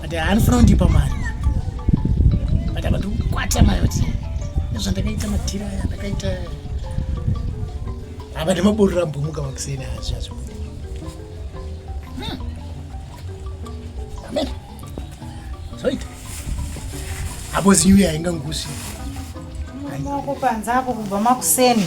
but handifuna kundipa mari but apa ndikukwata mari kuti nezvandakaita madhira aya ndakaita apa ndemaborora mbomuka makuseni azvi azvo hmm. amen zoita apo zinyuya haingangusi maoko panze apo kubva makuseni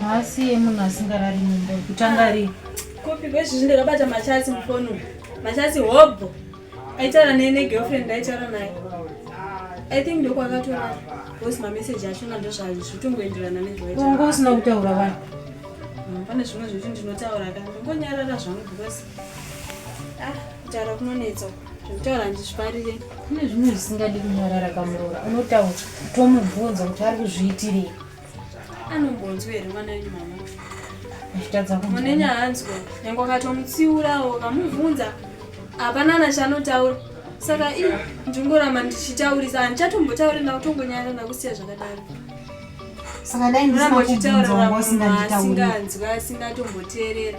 Haasi yemunhu asingarari mumba kutanga ah, rii. Kopi kwezvi zvinde kabata machasi mufoni. Machasi hobho. Aitara ne ne girlfriend aitara naye. I think ndoko akatora voice ma message acho na ndo zvazi zvitongoenderana ne zvaita. Ungo usina kutaura vanhu. Hmm, pane zvimwe zvekuti ndinotaura ka. Ngonyarara zvangu because ah kutaura kunonetsa. zvekutaura ndizvifarire kune zvimwe zvisingadi kunyarara kamuroora unotaura tomubvunza kuti ari kuzviitirei anombonzwa here mwana wenyu mama munenya hanzwa nyange akatomutsiurawo kamubvunza hapana ana chanotaura saka i ndingoramba ndichitaurisa handichatombotauri ndakutongonyara ndakusiya zvakadaro saka dai ndisina kubvunza wanga usinganzwa asingatomboteerera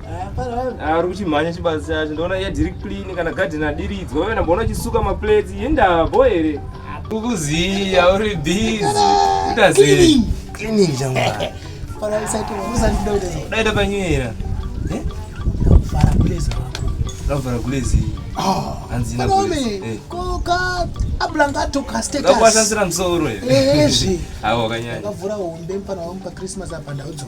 ari kuchimhanya chibazi chacho ndoona iya diri clean kana gadheni adiridzwa uye ndamboona chisuka maplates yendavo here ukuziya uri busy utazii cleaning changu daita panyera vara kulezi wako ndavara kulezi hanzi ablangato kastetasasira musoro ezvi awo kanyanya akavhura hombe mpana wangu pachristmas apa ndaudzwa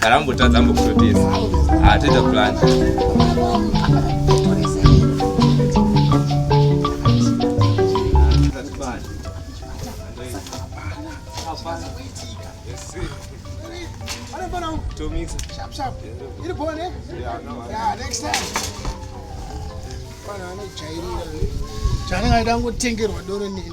kana ambotadza ambokutotesa ah, toita plan chanenge aida ngotengerwa doro neni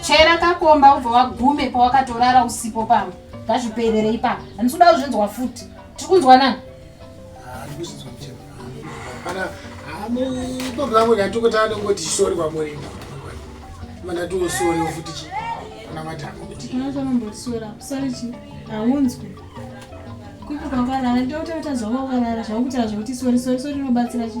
chera kakomba ubva wagume pawakatorara usipo pano ngazviperere ipapa handisi kuda kuzvinzwa futi tiri kunzwa nani pamwe ngatokota anongoti sori kwamuri mandatosori futi chi kana mataaotiaombosora sori chi haunzwi kupi kwakarara ndotatazovakarara zvakutaura zvekuti sori sori sori inobatsira chi